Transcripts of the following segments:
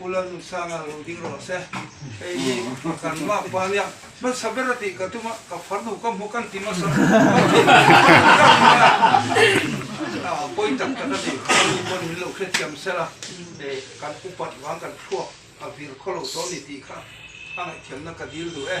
U Lalnu Sanga lo ding rawh a se. Hei hi a kan lak pa nia. Hmasa ber a tih ka tum a, ka farnu ka hmu kan ti hmasa a pawi tak tak a ni. Hemi pawn min lo hrethiam sel a, kan upat vang kan thluak a vir khaw lo tawh a ni tih kha a ngaihthiamna ka dil duh e.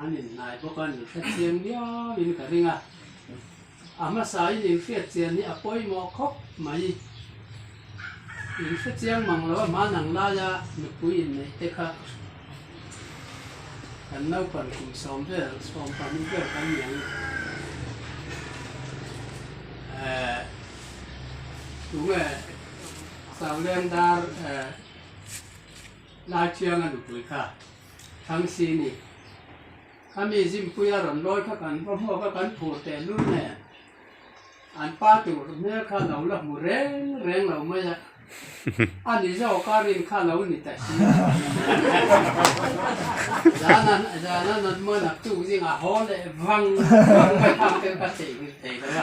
An innai bawk a, ni hre chiang viauin ka ring a, a hmasain inhriat chian hi a pawimawh khawp mai. In hre chiang mang lo a hman ang laia nupui inneite kha kan naupan kum sawm vel, sawm pahnih vel kan ni ang i. Ehh tu nge Sauleng dar Laithianga nupui kha Thangsini ami zimpuia rawn lawi kha kan va hmuh kha kan phur teh lul nen an pa tur hmel kha lo la hmu reng reng lo mai a, a ni zawk a rin kha lo ni ta si a, zanan zanan an hma nak chung zing a haw leh vang vang mai phang te kha chei ngil thei lo a.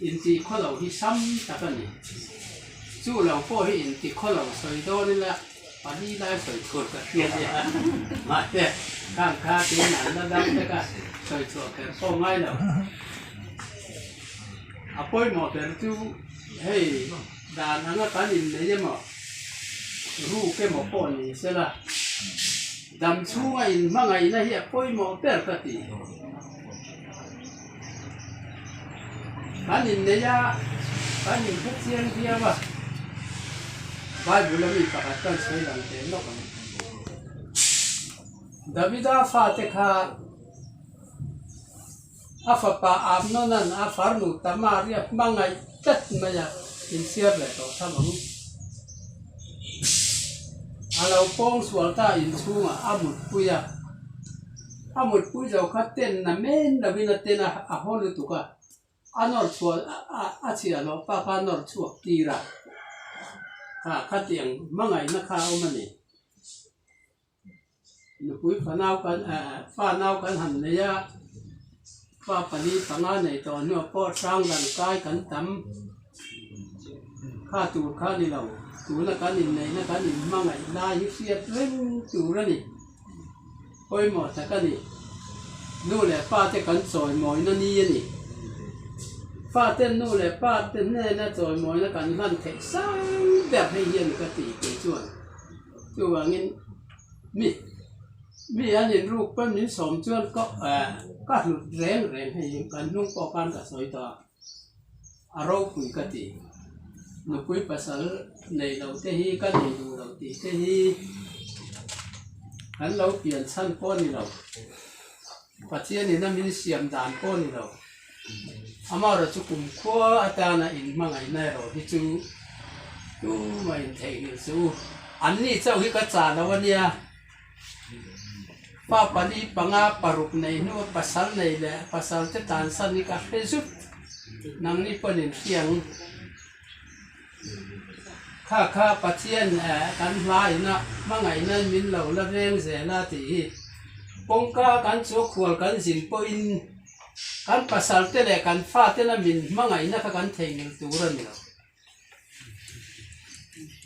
Inti khaw lo hi sam tak a ni. Chu lo pawh hi inti khaw lo sawi dawn ila pali lai sawi chhuan ka hria nia. Mahse khang kha tiin an la dang vek a, sawi chhuah kher pawh ngai lo. A pawimawh ber chu hei dan anga kan innei emaw, ruk emaw pawh ni sela. Dam chhunga in hmangaihna hi a pawimawh ber ka tih dawn. Kan innei a, kan inphe chiang diau a, Bible-a mi pakhat kan sawi lang teh lawk ang. Davida fate kha. a fapa Amnonan a farnu Tamar-i a hmangaih tlat mai a insiar leh tawh tha lo. A lo pawng sual ta in chhungah a mutpui a, a mutpui zo kha tenna men lovin a ten a, a haw lutuk a, a nawr chhuah a chhiah loh pa kha nawr chhuak tirah kha a khat eng hmangaihna kha a awm a ni. Nupui fanau kan fanau kan han nei a, pa pali panga nei tawh hnu ah pawh sang dan kai kan tam. Kha tur kha ni lo, tuna kan in neihna kan in hmangaih lai hi hriat reng tur a ni. Pawimawh tak a ni. Nu leh pa te kan chawimawina ni a ni. Pa ten nu leh pa te hnena chawimawina kan hlan theih sang ber hei hian ka ti tih chuan. Chuvangin mi mi an inruk pawn min sawm chuan ka ka hlut reng reng hei in kan hnung pawh khan ka sawi tawh a, a ropui ka ti. Nupui pasal nei lo te hi ka nei duh lo tih te hi kan lo pianchhan pawh a ni lo. Pathian in a min siam dan pawh ni lo. Amah erawh chu kum khua atan a in hmangaihna erawh hi chu tum a in theihnghilh chu u. An ni chauh hi ka chah lo a nia. Pa pali panga paruk nei hnu a pasal nei leh a pasal te tan san hi ka hre zut. Nangni pawn in hliang. Kha kha Pathian kan hmaiin a hmangaihna in min lo la veng zel a tih hi kawngka kan chawhkhual kan zin pawhin kan pasal te leh kan fa tena min hmangaihna kha kan theihnghilh tur a ni lo.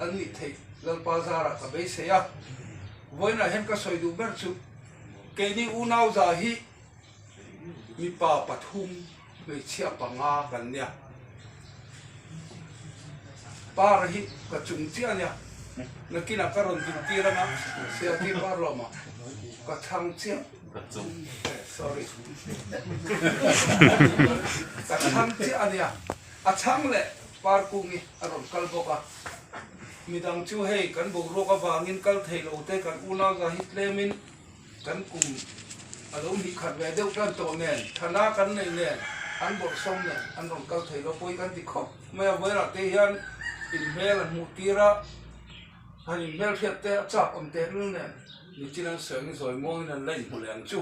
An nih theih Lalpa zarah ka beisei a, vawiinah hian ka sawi duh ber chu, keini unauza hi mipa pathum hmeichhia panga kan nia. Par hi ka chung chiah ania, nakinah ka rawn dik tir anga Sialtir par lawmah ka thlang chiah sorry ka thlang chiah ania. A chhang leh par kung i a rawn kal bawk a. Midang chu hei kan boruak avangin kal thei lo te kan unauza hi tlemin kan kum a lo hnih khat ve deuh tan tawh nen, thana kan neih nen, an bawrhsawm nen an rawn kal thei lo pawhin kan ti khawp mai a. Vawilah te hian inhmel an hmuh tir a. han in hmel hriat te a chak awm teh ril nen ni chin an sawi ang i zawi muangin an la in hmu leh ang chu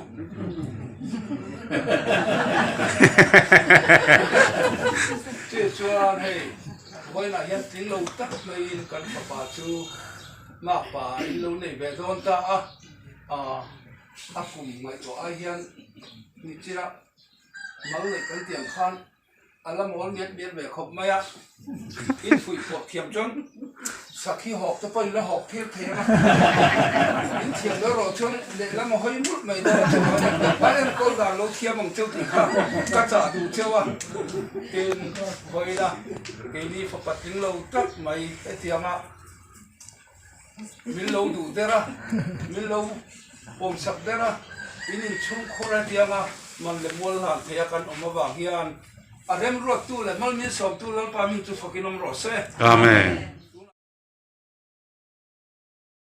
cheh chuan hei vawiin ah hian tling lo tak mai in kan fapa chu mak pa ah in lo nei ve dawn ta a ah a kum ngaihtuah ai hian ni chin ah mal neih kan tih ang khan A la mawl miat miat ve khawp mai a, infuih fuak thiam chuan sakhi hawk te pawh in la hawk thir thei ang a, inthiam lo erawh chuan lehlam a hawi mut mai dawn tawh a ni, a en kawl dan lo thiam ang cheu tih kha ka chah duh cheu a, tin khawina keini fapa tling lo tlat mai hetianga. Min lo duh der a, min lo pawm chak der a, min inchhungkhur a tiang a, man leh mual hlan theih a kan awm avang hian a remruattu leh hmalmin sawmtu Lalpa min chu fakin awm rawh se. Amen.